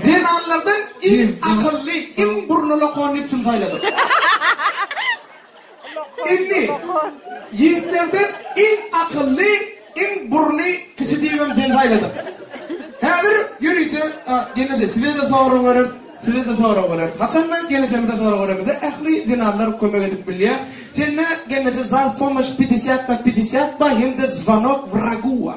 Zenanlardan iň akylly, iň burny lokon üpjün saýladyk. Indi, ýigitlerden iň akylly, iň burny kiçi diýip hem seni saýladyk. Häzir ýörite, a, gelneje, size-de sorag bereris, size-de sorag bereris. Haçanda gelnejemize sorag beremizde, ähli zenanlar kömek edip bilýär. Sende, gelneje, zal, pomoş, pidesýat na pidesýat ba, hem-de zwanok wraguwa.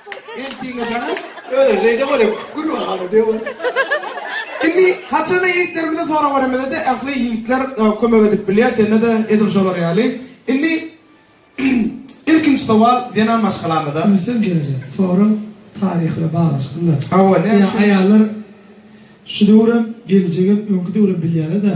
Eltiňe janam, öýe şeýde bolýar, gül bagala döwür. Indi haçanda ýigitlerimize sorag beremizde ähli ýigitler kömek edip bilýär, sende-de edil şolar ýaly. Indi ilkinji sowal zenan maşgalamyza. Gülsem geljek sorag taryh bilen baglanyşyklydyr. Hawa, näme üçin? Aýallar şu döwürem, geljegem, öňki döwürem bilýärler-dä.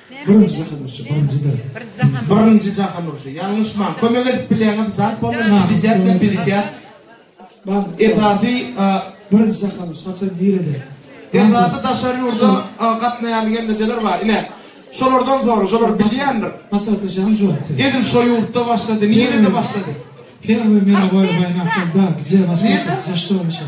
Birinji jahan urşy, birinjidir. Birinji jahan. Birinji jahan urşy. Ýalňyşmaň. Kömek edip bilýäňiz zat bolmasa bilýät we bilýät. Bak, esasy birinji jahan urşy haçan nirede? Esasy daşary ýurda gatnaýan gelnejeler bar. Ine, şolardan soru, şolar bilýändir. Maslahatly jahan jogap. Edil şo ýurtda başlady, nirede başlady? Her bir meni goýup aýnakda, gije başlady, jaşda olmuşar.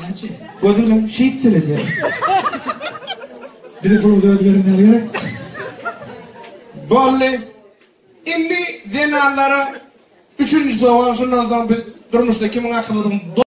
Näçe? Gözü bilen şeýt seredýär. Biri puluň öz görünýär gerek. Bolly. Indi zenanlara üçünji sowal şundan soň biz durmuşda kimiň akyllydygyny